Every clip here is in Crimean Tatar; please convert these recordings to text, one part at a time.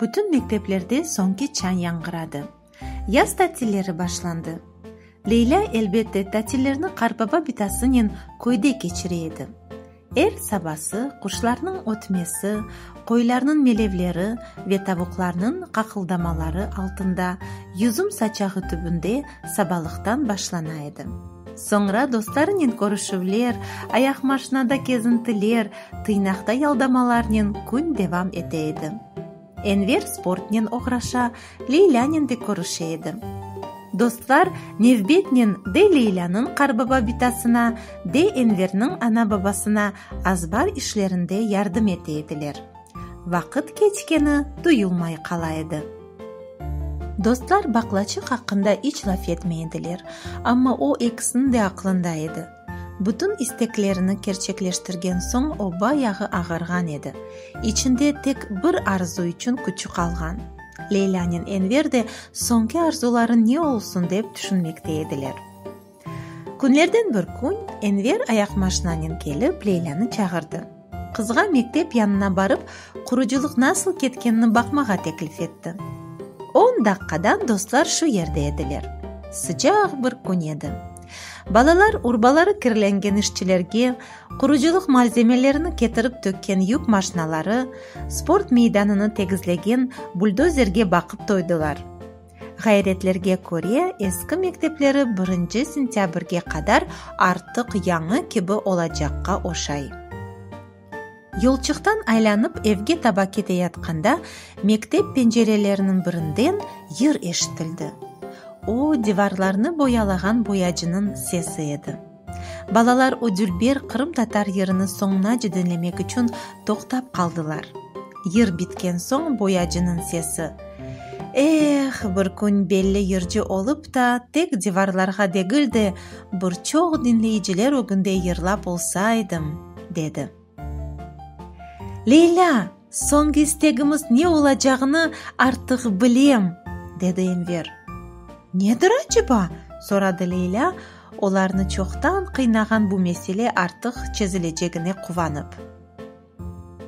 Bütün mekteplerde soñki çan yañğıradı. Yaz tatilleri başlandı. Leylâ, elbette, tatillerni Qarbaba bitasınen köyde keçire edi. Er sabası quşlarnıñ ötmesi, qoylarnıñ melevleri ve tavuqlarnıñ qaqıldamaları altında, yüzüm saçağı tübünde sabalıqtan başlana edi. Soñra dostlarınen körüşüvler, ayaqmaşinada kezintiler, tıynaqta yaldamalarnen kün devam ete edi. Enver sportnen oğraşa, Leylânen de körüşe edi. Dostlar nevbetnen de Leylânıñ qarbaba bitasına, de Enverniñ ana-babasına azbar işlerinde yardım ete ediler. Vaqıt keçkeni duyulmay qala edi. Dostlar baqlaçıq aqqında iç laf etmey ediler, amma o ekisiniñ de aqlında edi. Bütün isteklerini kerçekleştirgen soñ o bayağı ağarğan edi, içinde tek bir arzu içün küçü qalğan. Leylânen Enver de soñki arzuları ne olsun dep tüşünmekte ediler. Künlerden bir kün Enver ayaqmaşinanen kelip Leylânı çağırdı. Qızğa mektep yanına barıp, qurucılıq nasıl ketkenini baqmağa teklif etti. On daqqadan dostlar şu yerde ediler. Sıcaq bir kün edi. Balalar urbaları kirlengen işçilerge, qurucılıq malzemelerini ketirip tökken yük maşinaları, sport meydanını tegizlegen buldozerge baqıp toydılar. Ğayretlerge köre, eski mektepleri birinci sentâbrge qadar artıq yañı kibi olacaqqa oşay. Yolçıqtan aylanıp evge taba keteyatqanda, mektep pencereleriniñ birinden yır eşitildi. O, divarlarnı boyalağan boyacınıñ sesi edi. Balalar o dülber qırımtatar yırını soñunace diñlemek içün toqtap qaldılar. Yır bitken soñ boyacınıñ sesi, Eh, bir kün belli yırcı olıp ta, tek divarlarğa degil de, bir çoq diñleyiciler ögünde yırlap olsaydım! dedi. Leylâ, soñki istegimiz ne olacağını artıq bilem, dedi Enver. Nedir aceba? soradı Leylâ, olarnı çoqtan qıynağan bu mesele artıq çezilecegine quvanıp.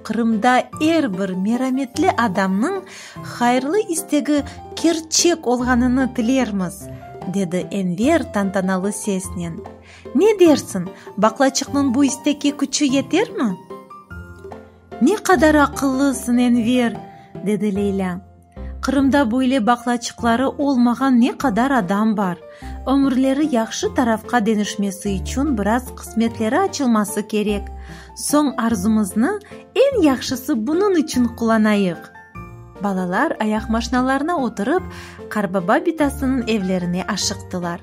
Qırımda er bir merametli adamnıñ hayırlı istegi kerçek olğanını tilermiz, dedi Enver tantanalı sesnen. Ne dersiñ, baqlaçıqnıñ bu istekke küçü yetermi? Ne qadar aqıllısıñ, Enver! dedi Leylâ. Qırımda böyle baqlaçıqları olmağan ne qadar adam bar! Ömürleri yahşı tarafqa denişmesi içün biraz qısmetleri açılması kerek. Soñ arzumıznı eñ yahşısı bunıñ içün qullanayıq! Balalar ayaqmaşnalarına oturıp, qarbaba bitasınıñ evlerine aşıqtılar.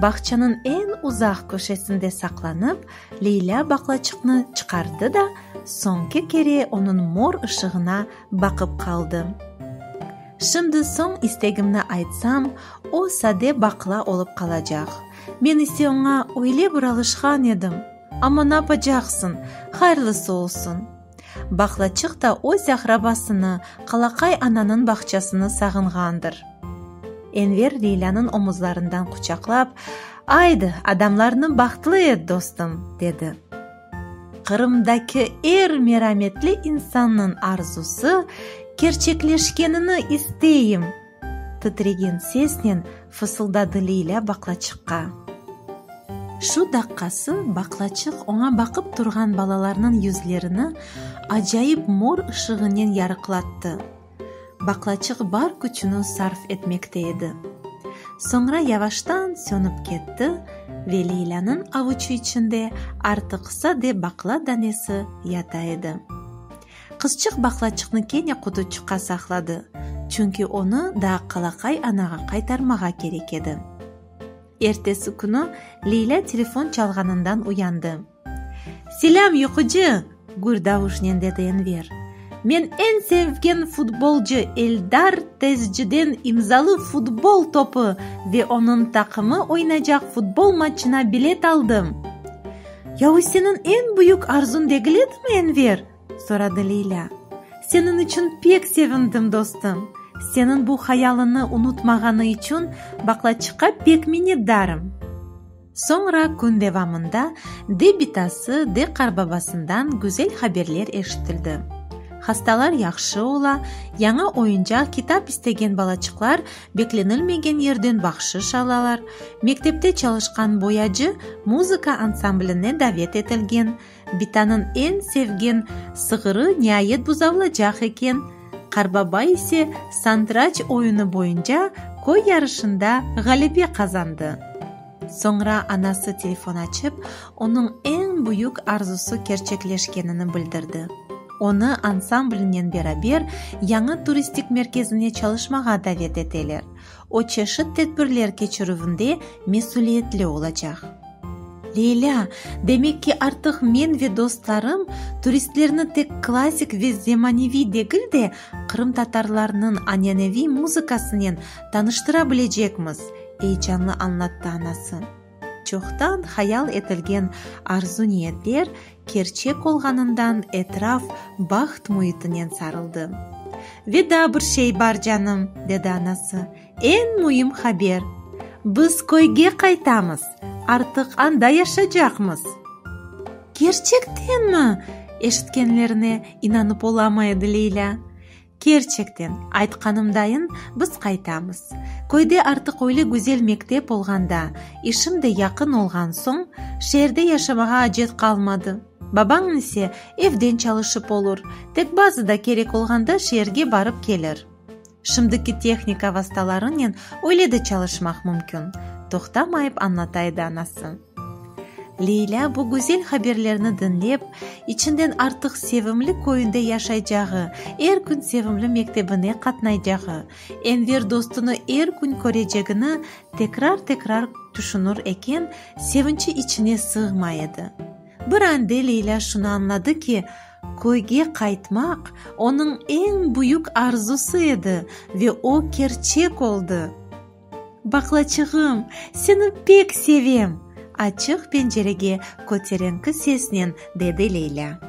Bağçanıñ eñ uzaq köşesinde saqlanıp, Leylâ baqlaçıqnı çıqardı da, soñki kere onıñ mor ışığına baqıp qaldı. Şimdi soñ istegimni aytsam, o sade baqla olıp qalacaq. Men ise oña öyle bir alışqan edim. Amma napacaqsıñ, hayırlısı olsun! Baqlaçıq da öz aqrabasını, Qalaqay ananıñ bağçasını sağınğandır. Enver Leylânıñ omuzlarından quçaqlap, Aydı, adamlarnı bahtlı et, dostum! dedi. Qırımdaki er merametli insannıñ arzusı kerçekleşkenini isteyim! Titregen sesnen fısıldadı Leylâ baqlaçıqqa. Şu daqqası baqlaçıq oña baqıp turğan balalarnıñ yüzlerini acayip mor ışığınen yarıqlattı. Baqlaçıq bar küçüni sarf etmekte edi. Soñra yavaştan sönip ketti ve Leylânıñ avuçı içinde artıq sade baqla danesi yata edi. Qızçıq baqlaçıqnı kene qutuçıqqa saqladı, çünki onı daa qalaqay anağa qaytarmağa kerek edi. Ertesi künü Leylâ telefon çalğanından uyandı. Selâm, yuqucı! gür davuşnen dedi Enver. Men eñ sevgen futbolcı Eldar Tezciden imzalı futbol topı ve onıñ taqımı oynacaq futbol matçına bilet aldım! Ya o seniñ eñ büyük arzuñ degil edimi, Enver? soradı Leylâ. Seniñ içün pek sevindim, dostum. Seniñ bu hayalını unutmağanı içün baqlaçıqqa pek minnetdarım. Soñra kün devamında de bitası, de qarbabasından güzel haberler eşitildi. Hastalar yahşı ola, yañı oyuncaq, kitap istegen balaçıqlar Beklenilmegen yerden bahşış alalar, mektepte çalışqan boyacı muzıka ansambline davet etilgen, Bitanıñ eñ sevgen sığırı niayet buzavlacaq eken, Qarbaba ise santraç oyunı boyunca köy yarışında ğalebe qazandı. Soñra anası telefon açıp, onıñ eñ büyük arzusı kerçekleşkenini bildirdi, onı ansamblinen beraber yañı turistik merkezine çalışmağa davet eteler, o çeşit tedbirler keçirüvinde mesüliyetli olacaq. Leylâ, demek ki, artıq men ve dostlarım turistlerni tek klassik ve zemaneviy degil de, qırımtatarlarnıñ aneneviy muzıkasınen tanıştıra bilecekmiz, Eyecanlı añlattı anası. Çoqtan hayal etilgen arzu-niyetler kerçek olğanından etraf baht müitinen sarıldı. Ve daa bir şey bar, canım, dedi anası, eñ müim haber! Biz köyge qaytamız, artıq anda yaşacaqmız! Kerçektenmi? eşitkenlerine inanıp olamay edi Leylâ. Kerçekten, aytqanımdayın, biz qaytamız. Köyde artıq öyle güzel mektep olğanda, işim de yaqın olğan soñ, şeerde yaşamağa acet qalmadı. Babañ ise evden çalışıp olur, tek bazı da kerek olğanda şeerge barıp kelir. Şimdiki tehnika vastalarınen öyle de çalışmaq mümkün, toqtamayıp añlataydı anası. Leylâ bu güzel haberlerni diñlep, içinden artıq sevimli köyünde yaşaycağı, er kün sevimli mektebine qatnaycağı, Enver dostunı er kün körecegini tekrar-tekrar tüşünür eken, sevinçi içine sığmay edi. Bir ande Leylâ şunı añladı ki, köyge qaytmaq onıñ eñ büyük arzusı edi ve o kerçek oldı. Baqlaçığım, seni pek sevem! açıq pencerege köterenki sesnen dedi Leylâ.